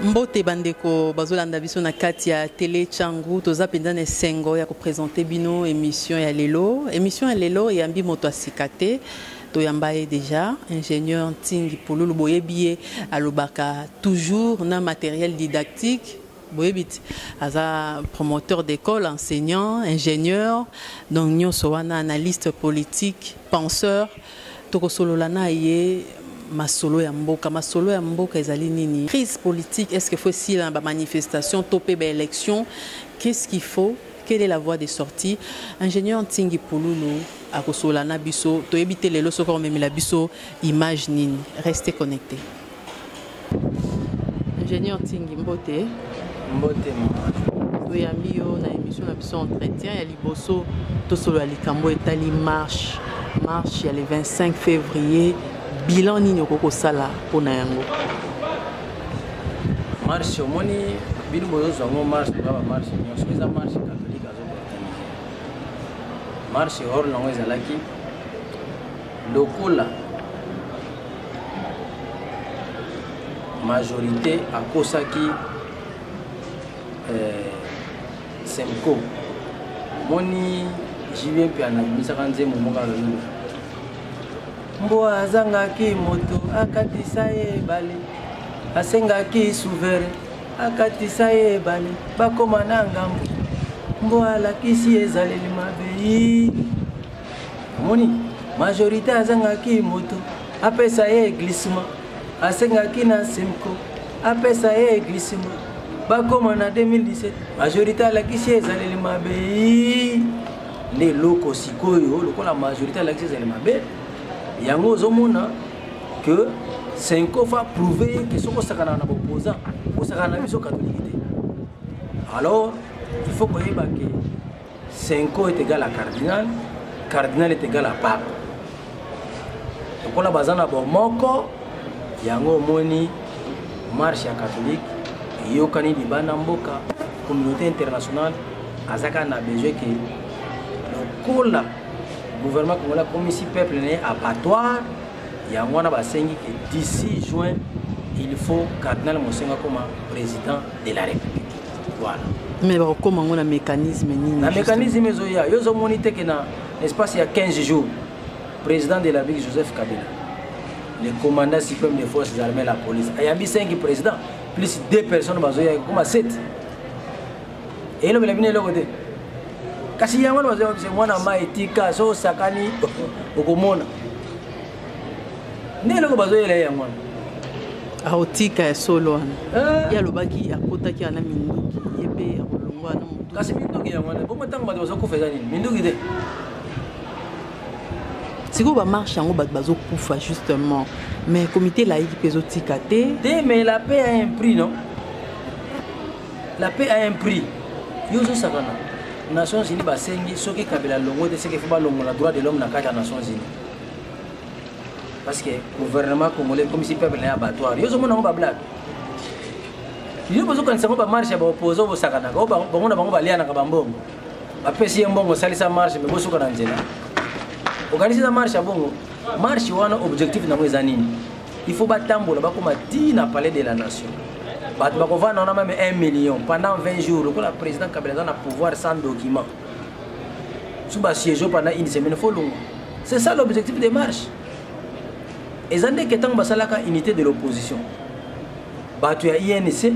mbote bandeko bazolanda biso na kati ya tele changu toza mpenza na esengo ya kopresente bino emission ya lelo emission ya lelo eyambi moto ya sika te toyamba ye déjà ingénieur ntingi pululu boyebi ye alobaka toujours na matériel didactique boyebi ti aza promoteur d'école enseignant ingénieur donc nyonso wana analyste politique penseur Tokosolola na ye masolo ya mboka. Masolo ya mboka ezali nini? Crise politique, est-ce qu'il faut esila na ba manifestations to pe ba elections? Qu'est-ce qu'il faut? Quelle est la voie de sortie? Ingénieur Ntingi Pululu akosolola na biso. Toyebi te lelo soki akomemela biso image nini. Restez connectés. ingénieur tingi mbote mbote toyambi yo na émission na biso entretien ya liboso tosolola likambo etali marche marche ya le 25 février bilan nini okoki kosala mpo na yango marche omoni bino bozozwa yango marche oza bamarche nyonso eza marche katolike azoorganize marche hor nango ezalaki lokola majorité akosaki eh, semco moni jibie mpe anabimisaka nzembo moko alololo mbwa azangaki moto akatisa ye ebale asengaki souverain akatisa ye ebale bakoma na ngambo mbwa alakisi ezaleli mabe omoni majorité azangaki moto apesa ye glissement asengaki na semco apesa ye glissement bakoma na 2017 majorité alakisi ye ezaleli mabe nde eloko sikoyo lokola majorité alakisi ezali mabe yango ozomona ke senko fa prouve ye ke soki osakanaka na boposa osakana na biso katolike te alors il faut koyeba ke Senko est égal à cardinal, cardinal est égal à pape. Lokola baza na bomoko yango omoni marche ya catholique eyokani libanda mboka communauté internationale azaka na besoin ke lokola gouvernement congolais akomisi peuple na ye abattoir yango wana basengi ke 16 juin il faut cardinal mosengo akoma président de la république voilà mais bakokoma yango na mécanisme nini na mécanisme ezoya yo ozomoni te ke na espace ya 15 jours président de la ville joseph kabila le commandant suprême des forces armées la police ayambi 5 président plus 2 personnes bazoya ekokoma 7 elobela bino eloko te kasi yango wana bazoya mwana mai etika so osakani okomona nde eloko bazoyela ye yango wana aotika ya solo wana eh. ye alobaki akotaki ana minduki ye mpe akolongwa na motu kasi minduki yango wana bongo ntango bato bazokufa eza nini minduki te sikoyo bamarche yango bato bazokufa justement mais comité laïki mpe ezotika te te mais la paix a un prix non la paix a un prix yo ozosakana nations unis basengi soki kabila longo te seke fo balongola droit de l'homme na kati ya nations unis parce que gouvernement congolais ekomisi peuple na ye abattoir yo ozomona yango bablage yo bozokanisa yango bamarche ya baoposa oyo bosakanaka oyo bango na bango balianaka bambongo bapesi ye mbongo osalisa marche me bosuka na nzela okanisi na marche ya bongo marche wana objectif nango eza nini il faut batambola bakoma ti na palais de la nation bato bakovanda wana meme 1 million pendant 20 jours lokola président kabila aza na pouvoir sans document soki basiège pendant une semaine fo longwa c'est ça l'objectif de marche eza ndeke ntango basalaka unité de l'opposition bato ya inc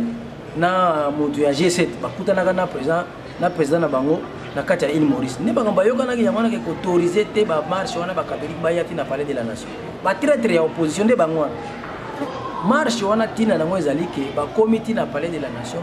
na moto ya g7 bakutanaka na président na président na bango na kati ya ile maurice nde makambo bayokanaki yango wana ke koautorize te bamarche wana bakatholike baya ti na palais de la nation batraitre ya opposition nde bango wana marche wana ntina na yango ezali ke bakomi ti na palais de la nation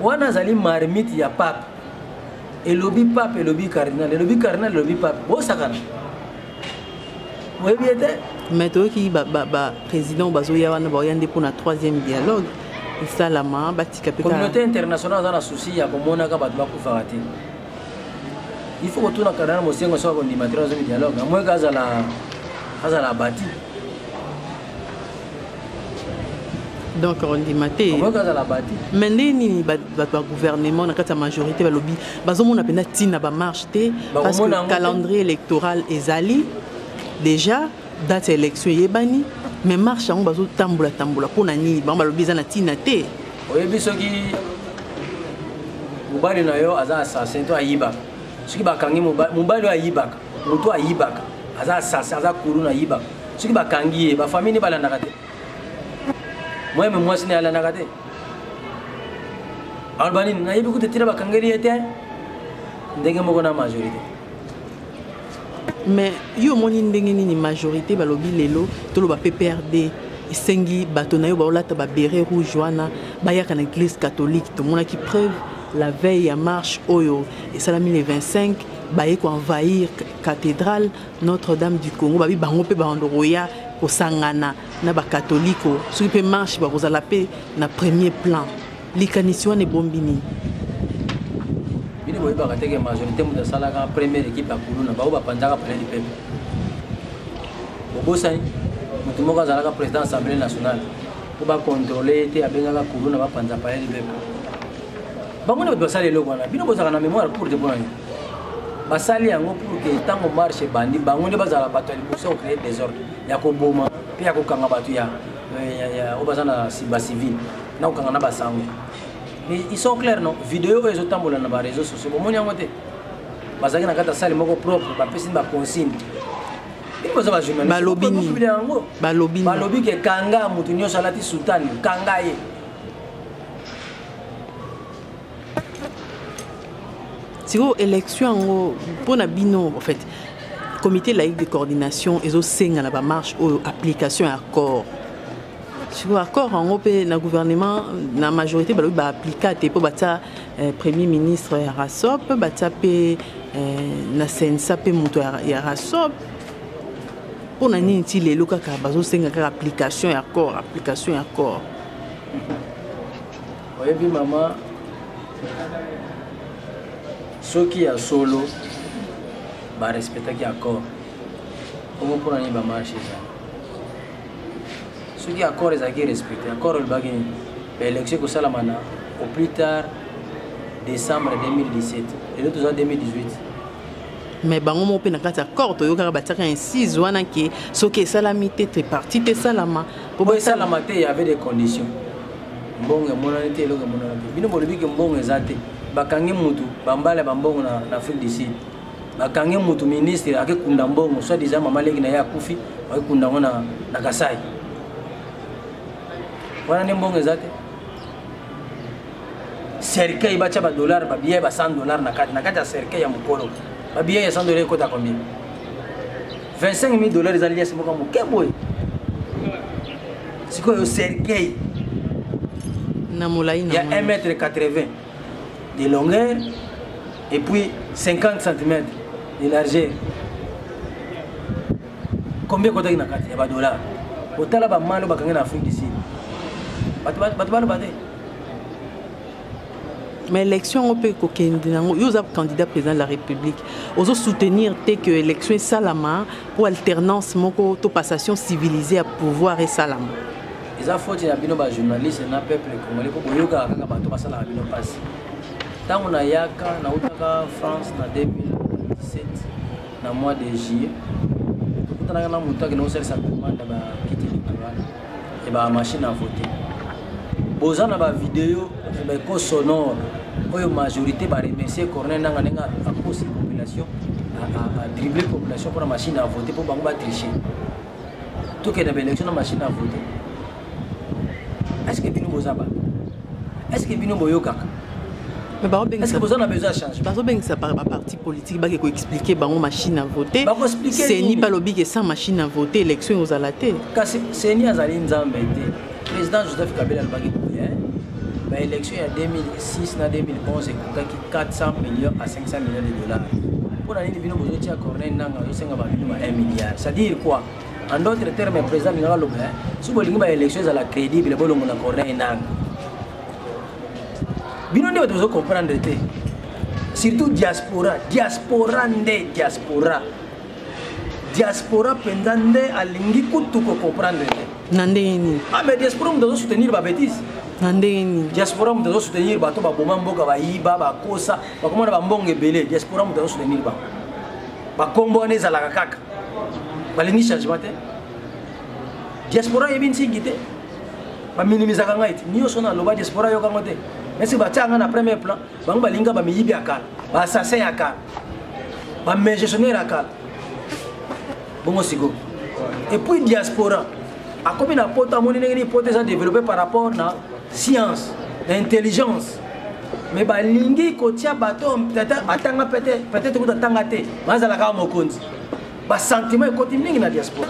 wana azali marmite ya pape elobi pape elobi cardinal elobi cardinal elobi pape bosakana oyebi ye te mais toyoki baprésident bazoya wana baoya nde mpona troisième dialogue esalama batika mpe communauté internationale aza na souci ya komonaka bato bakufaka te il faut kotuna cardinal mosengo soki akondima troisième dialogue amoyeke azala azala abati donc ondima te mais ndenge nini bato ba gouvernement na kati ya majorité balobi bazomona mpenza ntina bamarche te parce que calendrier électoral ezali déjà date ya élection eyebani mais marche yango bazotambola tambola mpo na nini bango balobi eza na ntina te oyebi soki mobali na yo aza assassin to ayibaka soki bakangi mobali oyo ayibaka moto ayibaka aza asasi aza kulu na yibaka soki bakangi ye bafamille nde balandaka te moyeme mwasi naye alandaka te aloba nini nayebi kutu etina bakangeli ye te ndenge moko na majorité mais yo omoni ndenge nini majorité balobi lelo toloba pprd esengi bato na yo baolata babere rouge wana bayaka na église catholique tomonaki preuve la veille ya marche oyo esalami le 25 baye ko envahir cathedrale notre dame du congo babi bango mpe bando koya kosangana na bakatoliko soki mpe marche bakozala mpe na premier plan likanisi wana ebombi nini bino boyebaka teke majorité moto asalaka première équipe ya kuluna baoyo bapanzaka pene lipepe bobosani moto moko azalaka président assemblée nationale mpo bakontrole ye te abengaka kuluna bapanza pale lipepe bango nde bato basali eloko wana bino bozalaka na mémoire courte mpo na nini basali yango pour ke ntango marche ebandi bango nde bazala bato ya liboso ya kocree desordre ya koboma mpe ya kokanga bato ya oyo baza na simba civile na kokanga na basango mais ils sont clair non video oyo ezotambola na bareseau sociaux bomoni yango te bazalaki na kati ya sale moko propre bapesi baconsigne balobi nini balobi ke kanga moto nyonso alati sutani kanga ye sikoyo élection yango mpo na bino en fait comité laïque de coordination ezosenga na bamarche oyo application ya accord sikoyo accord yango mpe na gouvernement na majorité balobi baaplika te mpo batya eh, premier ministre ya rasop batya mpe eh, na sensa mpe moto ya rasop mpo na nini ti lelo kaka bazosenga kaka application ya accord application ya accord oyebi mama soki ya solo barespectaki accord omo mpona nini bamarche eza soki accord ezalaki respecte accord olobaki nini baélection ekosalama na au plus tard décembre 2017 lelo toza 2018 mais bango moko mpe na kati ya corps toyokaka batiaka incise wana ke soki esalami te tripartite esalama mpo boesalama te ya avait des conditions mbongo emonani te eloko emonani te bino bolobi ke mbongo eza te bakangi mutu bambala ya bambongo na, na afrique du sud bakangi mutu ministre akekunda mbongo soit disant mama leki na ye akufi akekunda yango na, na kasai wana nde mbongo eza te cercueil batya badollar babiye ba 100 dollar na kati na kati ya cercueil ya mokolo babiye ya 100 dollar ekota combien 25 000 dollars eza liasi moko moke boye sikoyo sergei na molai ya 1 mètre 80 de longueur et puis 50 cm de largeur combien ekotaki na kati ya badollar otala bamalo bakangi na afrique du sud bato baloba te mais élection yango mpe kokende nango yo oza candidat président de la république ozo soutenir te que élection esalama mpo alternance moko to passation civilisée ya pouvoir esalama eza foti na bino bajournaliste na peuple congolais mpo boyokaka kaka bato basalaka bino mpasi ntango nayaka nautaka france na 2017 na mois de juillet tokutanaka na moto akende kosalisa commande ya bakiti et ba machine à voter boza na ba vidéo ba ko sonore oyo majorité ba remercier corner nanga ndenge akosi population a dribbler population pour la machine à voter pour bango ba tricher tout que na ba élection na machine à voter est-ce que bino boza ba est-ce que bino boyokaka mais bazobengisa boza na besoin ya changement bazobengisa baparti politique bake koexplike bango machine à voter seni balobi ke sans machine à voter élection ekozala te kasi seni azali nzambe te président joseph kabila alobaki boye baélection ya 2006 na 2011 ekokaki 400 millions à 500 millions de dollars mpo na nini bino bozotia corneille nanga azosenga babino ba 1 milliard c'est à dire quoi en d'autres termes président alingaka loba soki bolingi baélection ezala crédible bolongo na corneille nanga bino nde bato bozocomprendre te surtout diaspora diaspora nde diaspora diaspora mpenza nde alingi kutu kocomprendre te na ndenge nini ah mais diaspora moto azo soutenir babétise na ndenge nini diaspora moto azo soutenir bato baboma mboka bayiba bakosa bakoma na bambongo ebele diaspora moto azo soutenir bango bakombo wana ezalaka kaka balingi changement te diaspora ayebi nsingi te baminimisaka ngai ti nyonso na aloba diaspora yoka yango te esi batya ngai na premier plan bango balinga bamiyibi ya kala baassassin ya kala bamegestionnaire ya kala bongo siko epuis diaspora akomi na poto amoni ndenge nini poto eza développe par rapport na science na intelligence mais balingi kotia bato batanga peut-être kuta tanga te bazalaka mokonzi basentiment ekoti mingi na diaspora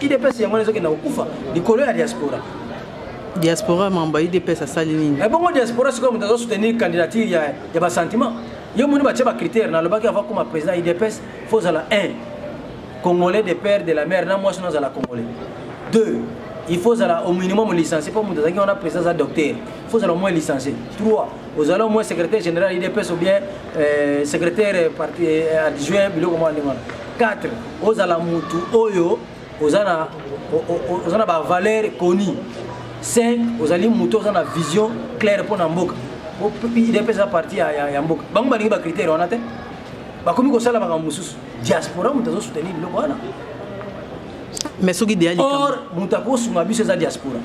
idps yango wana ezokenda kokufa likolo ya diaspora diaspora mamba idps asali nini ebongo eh, diaspora sikoyo moto azosoutenir candidature ya, ya basentiment yo moni batye bacritère nalobaki avant koma président idps fo ozala 1 congolais de père de la mère na mwasi nazala congolais 2 il faut ozala au minimum licencie mpo moto azalaki wana président aza docteur faut ozala moins licencié 3 ozala moins secrétaire général idps ou bien euh, secrétaire euh, parti euh, adjoint biloko mwa ndenge wana 4 ozala mutu oyo oza na oza na bavaleur connu 5 ozali moto oza na vision claire mpo na mboka idps eza parti ya, ya, ya mboka bango balingi bacritère wana te bakomi kosala makambo mosusu diaspora moto azosoutenir biloko wana mais soki or moto akosunga biso eza diaspora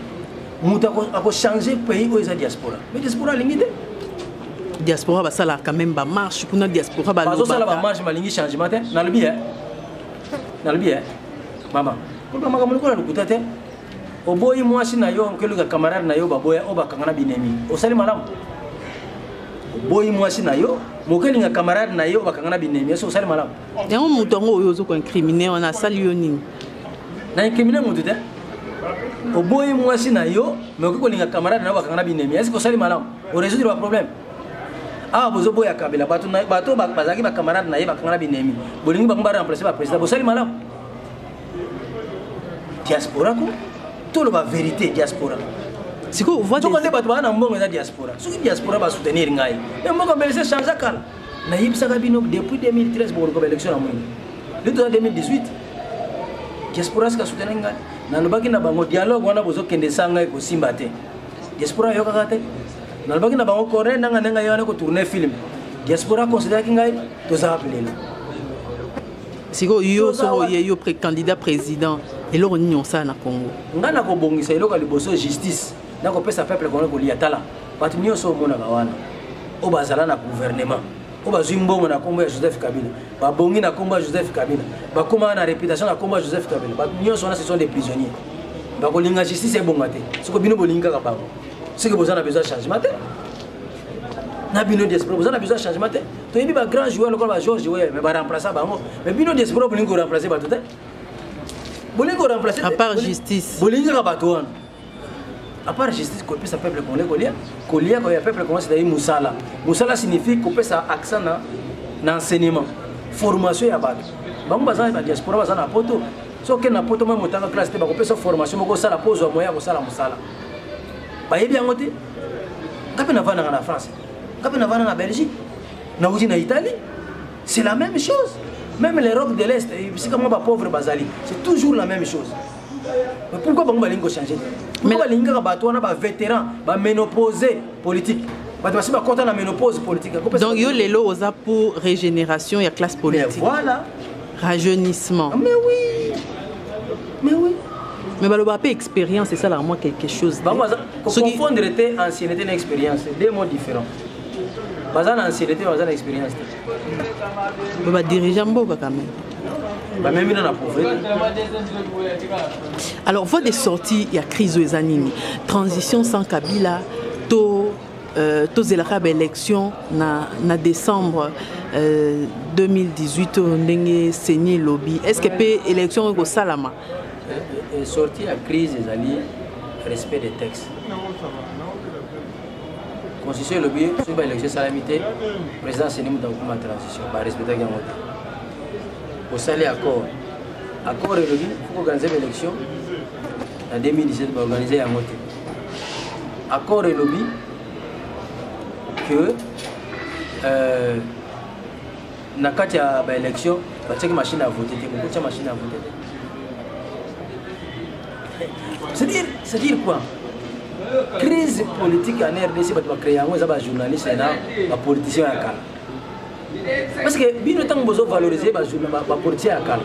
moto akochange pays oyo eza diaspora mais diaspora alingi te diaspora basalaka quand même bamarche kuna diaspora bazosala bamarche balingi changement te nalobi e nalobi e mama oloba makambo lokola lokuta te oboyi mwasi na yo okeluka camarade na yo baboya oyo bakanga na binemi osali malamu oboyi mwasi na yo mokelinga camarade na yo bakanga na binemi esi osali malamu yango moto yango oyo ozo koincrimine wana asali yo nini na incrimine moto te oboyi mwasi na yo me okoki kolinga camarade na yo bakanga na binemi esi kosali malamu oresoudre baproblème awa bozoboya kabila bato bazalaki bacamarade na ye bakanga na binemi bolingi bango baremplace baprésident bosali malamu diaspora ko toloba vérité diaspora sikoyo nde bato baa na mbongo eza diaspora soki diaspora basoutenir ngai me mboka mbelese change kala nayebisaka bino depuis 2013 bokoluka baélection na mwingi yo toza 2018 diaspora sika soutenaki ngai nalobaki na bango dialogue wana bozokende esanga ngai kosimba te diaspora ayokaka te nalobaki na bango corne nanga ndenge ye wana kotourne film diaspora consideraki ngai tozala pelela sikoyo yo soko oye yo candidat président eloko nini osala na congo ngai nakobongisa eloko ya liboso justice nako pesa peuple congolais kolia tala bato nyonso omonaka wana oyo bazala na gouvernement oyo bazwi mbongo na nkombo ya joseph kabila babongi na nkombo ya joseph kabila bakomaka na réputation na nkombo ya joseph kabila bato nyonso wana ce sont des prisonniers bakolinga justice ebonga te soko bino bolingi kaka bango soki boza na besoin changement te na bino diaspora boza na besoin changement te toyebi ba grand joueur lokola ba george weyer mais baremplaça bango mais bino diaspora bolingi koremplace bato te bolingi koremplace bolingi kaka bato wana à part justice kopesa peuple congolais kolia kolia koya peuple congolais ezali mosala mosala signifie kopesa accent na, na enseignement formation ya bato bango baza na diaspora baza na poto soki na poto mwa motanga classe te bakopesa formation moko osala mpo ozwa moyen ya kosala mosala bayebi yango te nga mpe navandaka na france nga mpe navanda na belgique nauti na italie c'est la même chose même l'europe de l'est bisika mwa bapauvre bazali c'est toujours la même chose pourquoi bango balingi kochange te balingi kaka bato wana bavétéran bamenopose politique bato basi bakɔta na ménopose politique donc yo lelo oza pour régénération ya classe politique voilà rajeunissement ah, mais oui mais oui mais baloba mpe expérience esalaka mwa quelque chose confondre te ancienneté na expérience deux mots différents baza na ancienneté baza na expérience te po badirige mboka kame bamemi na na pauvreté alors voie de sortie ya crise oyo eza nini transition sans kabila to euh, tozelaka baélection na, na décembre euh, 2018 oyo ndenge seni elobi est ce que mpe élection oyo ekosalama sortie ya crise ezali respect des textes constitution elobi soki baélection esalami te président seni moto akokoma transition barespectaki yango te osali accord accord elobi foko organise baélection na 2017 baorganize yango te accord elobi que euh, na kati ya baélection batiaki machine ya vote te bokotia machine ya vote te c'est-à-dire c'est-à-dire quoi crise politique en rdc bato bacrée yango eza bajournaliste na bapoliticien ya kala parce que bino ntango bozovalorize bapoliticien ya kala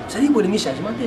c'est-à-dire bolingi changement te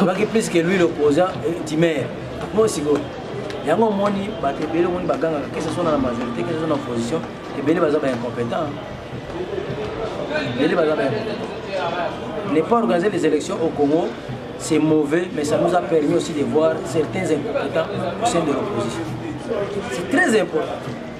abaki plus que lui l'opposant timer eh, bon sikoyo yango omoni bato ebele omoni bagangaka kese sona na majorité kese sona opposition ebele baza ba incompétent ebele baza ba ne pas organiser les élections au congo c'est mauvais mais ça nous a permis aussi de voir certains incompétents au sein de l'opposition c'est très important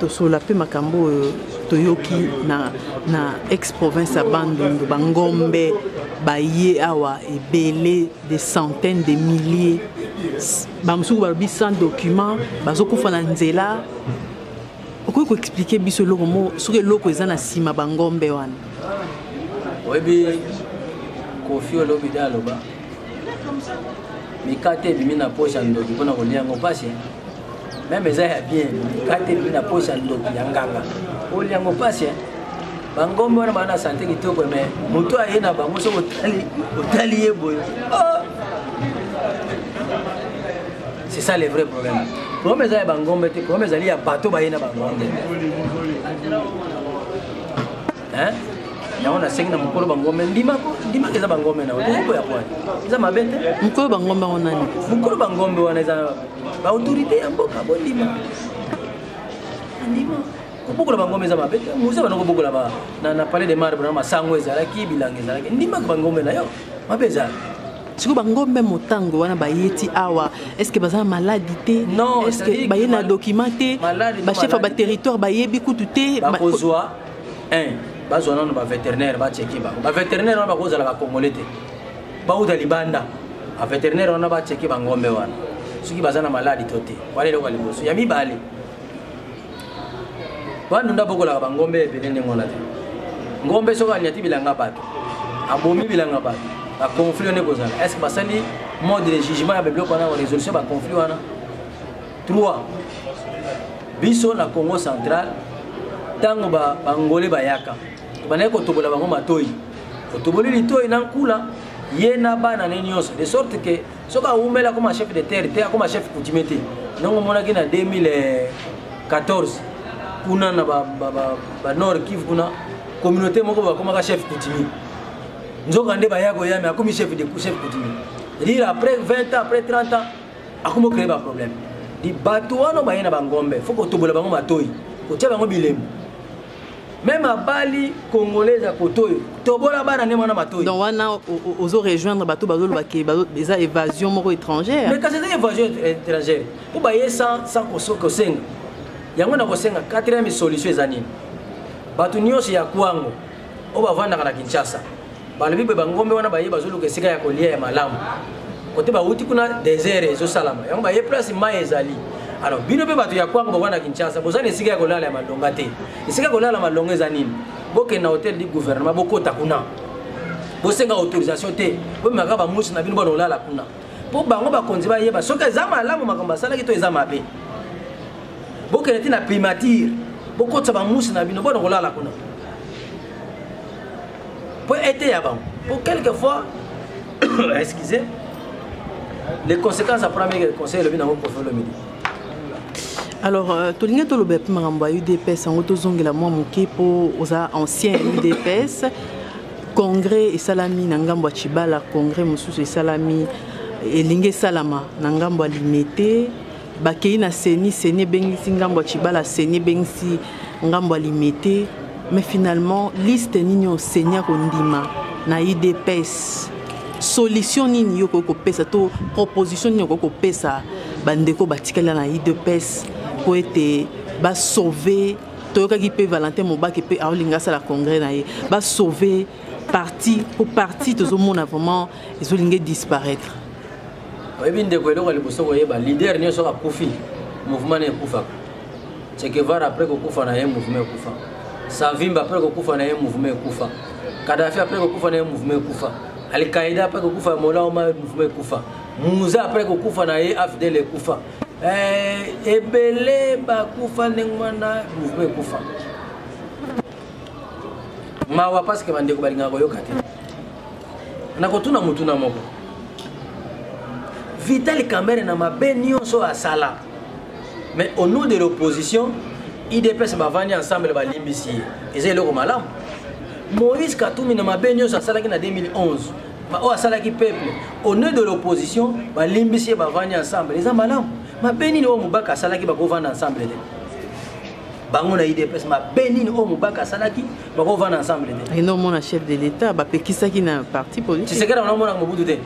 tosolola mpe makambo oyo toyoki na, na ex province ya bandundu bangombe baye awa ebele des centaines de milliers bamosuku balobi sans document bazokufa na nzela okoki koexplike biso eloko mo soki eloko eza na nsima bangombe wana oyebi kofi olobi de aloba mikate ebimi na posa ndoki mpo na kolia yango mpasi meme eza ya bien kati elingi na posa ndoki ya nganga olia yango mpasi eh? bangombe wana bana sante kitoko me moto aye na bango soki otali otali ye boye oh! c'est ça le vrai problème problème eza ya bangombe te problème ezali ya bato baye na bangombe yango nasengi na mokolo bangombe ndimako ndimaka eza bangombe na okokoya pwani eza mabe te mokolo bangombe yango nani mokolo bangombe wana eza ba autorité ya mboka bondima andima kobokola bangomba eza mabe te moza bana kobokola na palais de marbre na masango ezalaki bilanga ezalaki ndimaka bangombe na yo mabe ezala sikoyo bangombe motango wana baye ti awa estce baza na maladi te estce baye na document te bachef ya baterritoire bayebi kutu te bakozwa bazwa nano bavétérinaire bacheki bango bavétérinaire wana bakozala bakongole te bauta libanda baveterinaire wana bacheke bangombe wana soki baza na maladi to te wana eloko ya liboso ya mibale bandunda bokolaka bangombe ebele ndenge wana te ngombe soki anyati bilanga bato abomi bilanga bato baconflit wana ekozala est ce que basali mode de jugement ya babiloko wana resolution ya baconflit wana 3 biso na congo central ntango bangole bayaka tobandaki kotobola bango matoi otoboli litoi na nkula ye na bana ne nyonso de sorte ke soki awumeli akoma chef de terre te akoma chef coutumier te ndongo omonaki na 2014 kuna na banord kive kuna communauté moko bakomaka chef coutumier nzoka nde baya koya me akomi chef de chef coutumier dire après 20 ans après 30 ans akomi ocreye baproblème bato wana baye na bangombe fo kotobola bango matoi kotia bango bilembo meme abali congolaise ya koto oyo tobola bana nde mwana matoi donc wana ozo rejoindre bato bazoloba ke eza évasion moko étrangère mais kasi eza évasion étrangère mpo baye sans kosenga yango na kosenga quatrième solution eza nini bato nyonso ya kwango oyo bavandaka na kinshasa balobi boye bangombe wana baye bazoluka esika ya kolia ya malamu kote bauti kuna desert ezosalama yango baye place mai ezali alors bino mpe bato ya kwango bokoa na kinshasa boza na esika ya kolala ya malonga te esika ya kolala malonga eza nini bokende na hotel du gouvernement bokota kuna bosenga autorisation te bomemaka bamusi na bino bona olala kuna mpo bango bakonzi bayeba soki eza malamu makambo asalaki to eza mabe bokende ti na primature bokotisa bamusi na bino bona kolala kuna mpo eteya bango mpo quelque fois excusez les conséquences après ameke conseil elobi nango kofi olomide alors euh, tolingi toloba yapi makambo ya udps yango tozongela mwa moke mpo oza ancien ya udps congrès esalami na ngambo ya chibala congrès mosusu esalami elingi esalama na ngambo ya limete bakei na seni seni ebengisi ngambo ya cibala seni ebengisi ngambo ya limete mais finalement liste nini oyo seni akondima na idps solution nini yo okoki kopesa to proposition nini okoki kopesa bandeko batikala na idps mpo ete basauve toyokaki mpe valentin mobake mpe aolinga asala congrès na ye basauve parti mpo parti tozomona vraiment ezolinga disparaître oyebi ndeko eloko ya liboso koyeba leader nyonso akufi mouvement na ekufaka chekevara apres kokufa na ye mouvement ekufa savimba apres kokufa na ye mouvement ekufa kadafi apres kokufa na ye mouvement ekufa alkaida apres kokufa ya mola oma mouvement ekufa muza apres kokufa na ye afdel ekufa eh, ebele bakufa ndenge wana mouvement ekufa mawa parce que bandeko balingaka koyoka te nakotuna motuna moko vitali kamere na mabe nyonso asala mais au nom de l'opposition idps bavandi ensemble balimbisi ye eza eloko malamu moïse katumi na mabe nyonso asalaki na 2011 oyo asalaki peuple au nom de l'opposition balimbisi ye bavandi ensemble eza malamu mabe nini oyo mobaka asalaki bakovanda ensemble te bango na idps mabe nini oyo mobaka asalaki bakovanda ensemble te eno omona chef de l'état bapekisaki na parti politique tisekela wana omonaka mobutu te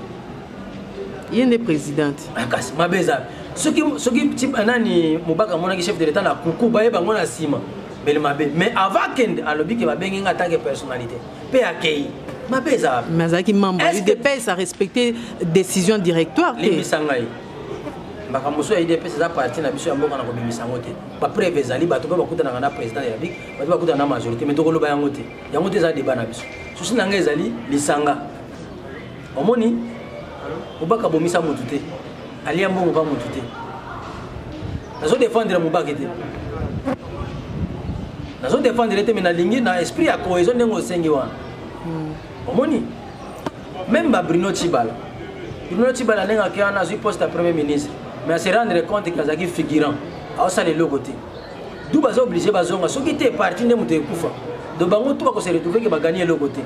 ye nde présidente ah, kasi mabe eza soki soki eh, nani mobaka amonaki chef de l'état na kuku baye bango na nsima bele mabe mais avant akende alobi ke babengi nga atake personnalité mpe akei mabe eza wapi mais azalaki membre udps arespecte décision directoire te limbisa ngai makambo mosusu ya idps eza parti na biso ya mboka na kobimisa yango te bapreve ezali bato mpe bakutanaka na président ya république bato bakutana na majorité mais tokoloba yango te yango te eza débat na biso susi na ngai ezali lisanga omoni mobaka abomisa motu te alia mbongo mpa motu te nazo défendre mobake te nazo défendre te mais nalingi na esprit ya cohésion ndenge osengi wana hmm. omoni même ba bruno chibala bruno chibala ndenge akei wana azwi poste ya premier ministre mais ase rendre compte ke azalaki figurant aosala eloko te du baza oblige bazonga soki te parti nde moto ekufa do bango tu bakose retrouve ke bagani eloko te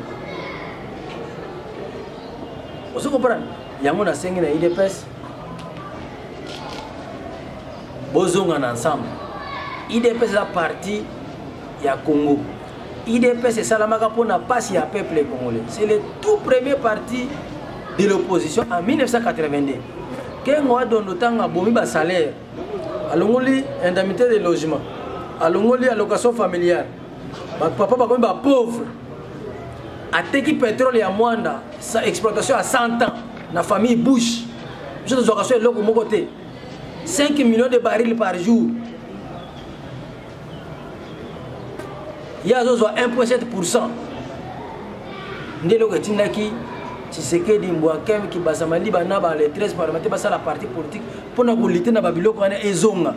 ozo comprendre yango nasengi na idps bozonga na ensemble idps eza parti ya congo idps esalamaka mpona mpasi ya peuple congolais c'est le tout premier parti de l'opposition en 1982 kengo adondo ntango abomi basalaire alongoli indemnité de logement alongoli allocation familiale papa bakomi bapauvre ateki petrole ya mwanda sa exploitation ya 100 ans na famille bouche biso tozwaka so eloko moko te 5 millions de baril par jour ye azozwa 1.7 nde eloko etindaki tshisekedi mbwa kem kibasa maliba na ba le 13 parlementaire basala parti politique mpo na kolite na babiloko wana ezonga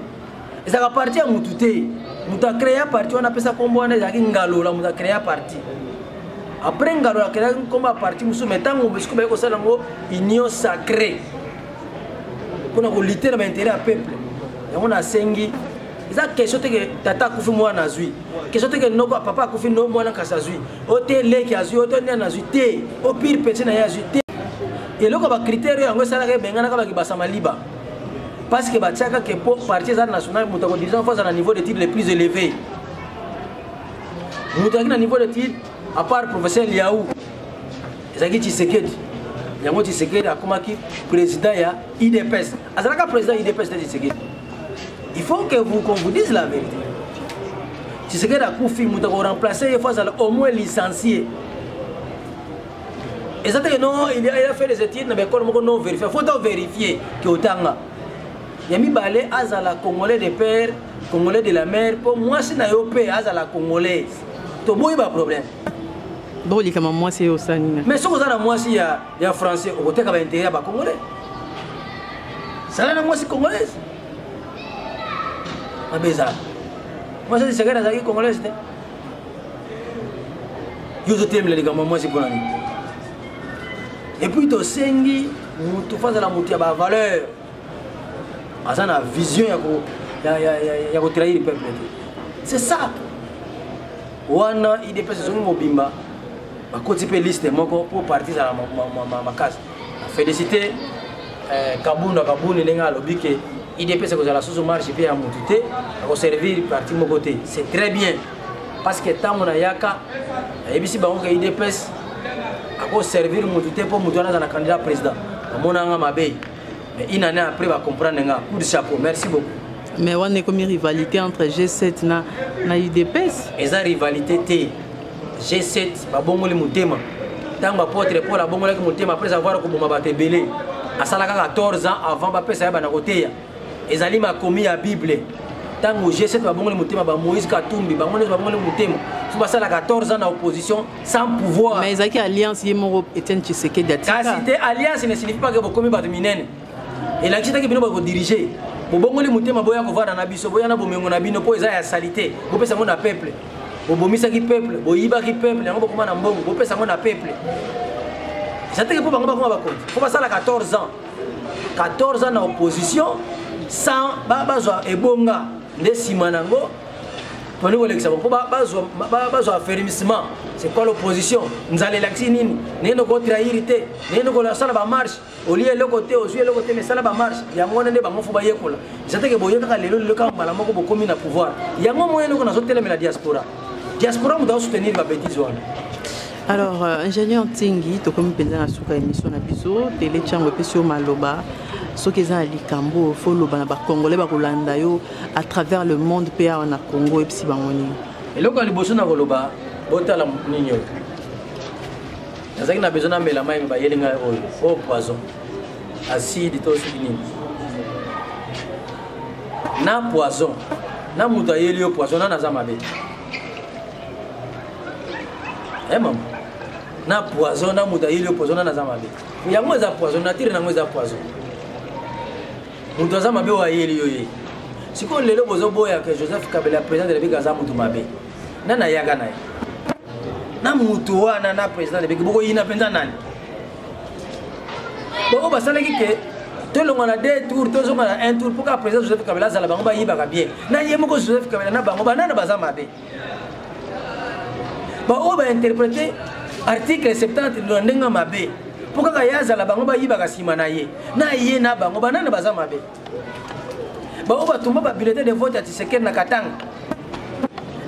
ezalaka parti ya motu te moto akrea parti wana apesa nkombo wana ezalaki ngalola moto akrea parti après ngalola akelaki nkombo ya parti mosusu mai ntango mosiko baye kosala yango union sacré mpo na kolite na bainteret ya peuple yango nasengi eza question te ke tata akufi mwana azwi question te ke noko papa akufi no mwana kasi azwi o te leki azwi o te nani azwi te o pire petit na ye azwi te eloko ya bacritère yango esalaka ebenganaka bakibasa maliba parce que batiaka ke mpo parti eza national moto ya kodirigeant fo aza na niveau d'étude le plus élevé moto azalaki na niveau d'étude à part professeur liau ezalaki tshisekedi yango tshisekedi akomaki président ya idps azalaka président ya udps te tshisekedi il faut que vous qu'on vous dise la vérité tshisekedi akufi moto akoremplace ye fo azala au moins licencie eza te no il a fait les études na baekole moko non vérifie faut to vérifie ke otanga ya mibale azala congolais de père congolais de la mère mpo mwasi na yo mpe azala congolaise toboyi baproblème bokolikama mwasi ye osani mais soki oza na mwasi ya ya français okoteka ba intérêt ya ba congolais sala na mwasi congolaise mabe ezala mwasi azisekeli azalaki congolaise te yo ozotelemela likambo ya mwasi mpo na nini epuis tosengi motu fo azala motu ya bavaleur aza na vision ya kotrahir peuple te c'est ça wana idps ezongi mobimba bakoti mpe liste moko mpo parti ezala makasi félicité eh, kabunda kabuni ndenge alobi ke idps ekozala susu marche mpe ya motu te akoservir parti moko te c'est très bien parce que ntango nayaka ayebisi bango ke idps akoservir motu te mpo motu wana aza na candidat président amonanga mabe Mais une année après, va comprendre nga. Coup de chapeau. Merci beaucoup. Mais on est comme une rivalité entre G7 na na UDPS. Et ça rivalité T. G7 ba bongoli mutema. Tango apôtre Paul a bongoli mutema après avoir koboma ba tebele. Asalaka 14 ans avant ba pesa ya bana koteya. Ezali makomi ya Bible. Tango G7 ba bongoli mutema ba Moïse Katumbi, ba ngone ba bongoli mutema. Faut basala 14 ans na opposition sans pouvoir mais ezalaki alliance ye moko etienne tshisekedi atika kasi te alliance ne signifie pas ke bokomi bato minene elakisi teke bino bakodirige bobongoli motema boya kovanda na biso boya na bomengo na bino mpo eza ya salite bopesa yango na peuple bobomisaki peuple boyibaki peuple yango bokoma na mbongo bopesa yango na peuple eza teke mpo bango bakoma bakonzi mpo basala 14 ans 14 ans na opposition sans bazwa ebonga nde nsima na yango tolingi kolekisa po bazwa affermissement c'est quoi l'opposition nzala elakisi nini nayende kotrahiri te nayende kolasala bamarche olie eloko te ozwi eloko te mesala bamarche yango wana nde bango fo bayekola eza teke boye kaka lelo lelo kaka mbala moko bokomi na pouvoir yango moyen eloko nazotelemela diaspora diaspora moto asoutenir babetise wana alors euh, ingénieur ntingi tokomi mpenza na suka émission na biso tele ntango epesi yo maloba soki eza na likambo fo oloba na bacongolais bakolanda yo à travers le monde mpe awa na congo oyebisi bango nini eloko ya liboso na koloba botala nini oyo nazalaki na besoin namela mai bayeli ngai oyo oyo poison acide to soki nini na poison na moto ayeli yo poison nani aza mabe e mama na poison na moto ayeli yo poison nani aza mabe yango eza poison natire na yango eza poison moto aza mabe oyo ayeli yo ye sikoyo lelo bozoboya ke joseph kabela président de la république aza moto mabe nani ayaka na ye na moto wana na président de la république bokoyina mpenza nani baoyo basalaki ke tolonga na deux tour tozonga na un tour mpo kaka président joseph kabela azala bango bayibaka bien na ye moko joseph kabela na bango banana baza mabe baoyo bainterprete article 70 na ndenge mabe mpo kaka ye azala bango bayibaka nsima na ye na ye na bango banani baza mabe baoyo batumba babiletin de vote ya tisekeli na katanga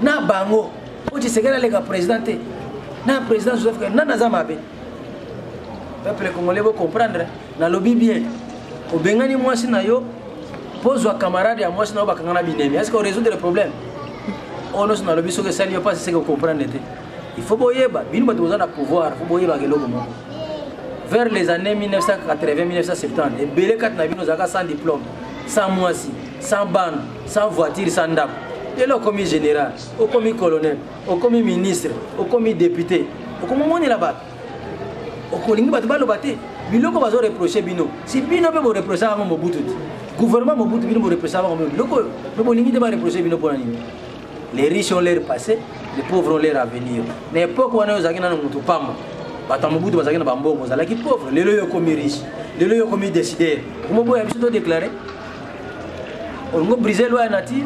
na bango mpo tisekeli aleka président te na président joseph nani aza mabe peuple congolais bocomprendre nalobi bien obengani mwasi na yo mpo ozwa camarade ya mwasi na yo bakanga na binemi est ce que orésoudre problème oyo nyonso nalobi soki esali yo mpasi seke okomprendre te il faut boyeba bino bato boza na pouvoir fo boyebaka eloko moko vers les années 1980-1970 ebele kati na bino ozalaka sans diplôme sans mwasi sans bana sans voiture sans ndako lelo okomi général okomi colonel okomi ministre okomi député okomomonela bato okolingi bato baloba te biloko bazo reproche bino si bino mpe boreproche yango mobutu te gouvernement mobutu bino boreproche bango mpe biloko oyo mpe bolingi te bareproche bino mpona nini les riches ont leur passé les pauvres ont leur avenir na époque wana oyo ozalaki nano moto pamba bato ya mobutu bazalaki na bambongo ozalaki pauvre lelo yo okomi riche lelo yo okomi décideur okomoboya biso to déclare olingo brise loi ya nature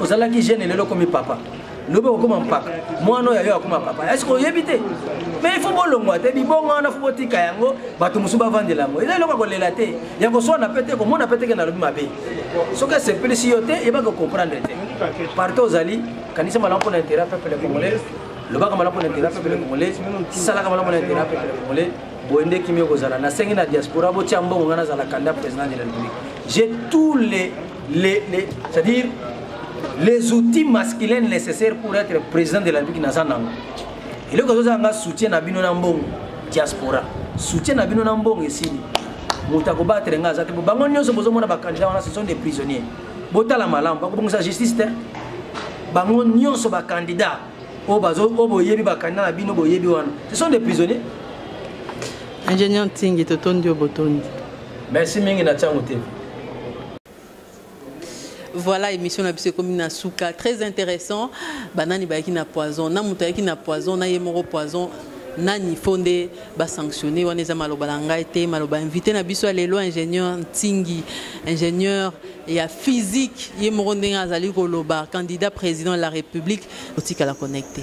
ozalaki jeune lelo okomi papa lobi okokoma mpaka mwana oyo ayo akoma papa eske oyebi te me ifo bolongwa te bibongo wana fo botika yango bato mosusu bavandela yango eza eloko ya kolela te ya koswana mpe te komona mpe teke nalobi mabe soki esepelisi yo te yebaka okomprendre te parte ozali kanisa malamu mpo na interet peuple congolais lobaka malamu mpo na interet peuple congolais salaka malamu mpo na interet peuple congolais boye nde kimi okozala nasengi na diaspora botia mbongo ngai nazala kanda président de la république j'ai tous les les, les, c'est à dire les outils masculins nécessaires pour être président de la république naza nango eloko ezozala nga soutien na bino na mbongo diaspora soutien na bino na mbongo esili moto akobatele nga aza te bango nyonso bozomona bakandidat wana ce sont des prisonniers botala malamu bakobongisa justice te bango nyonso bakandidat oyo boyebi bakandidat na bino boyebi wana ce sont des prisonniers ingénieur ntingi totondi yo botondi merci mingi na tiango tv voilà émission na biso ekomi na suka très intéressant banani bayaki na poison na moto ayaki na poison na ye moko poison nani fo nde basanctionne wana eza maloba na ngai te maloba invité na biso ya lelo ingénieur ntingi ingénieur ya physique ye moko ndenge azali koloba candidat président de la république otikala connecte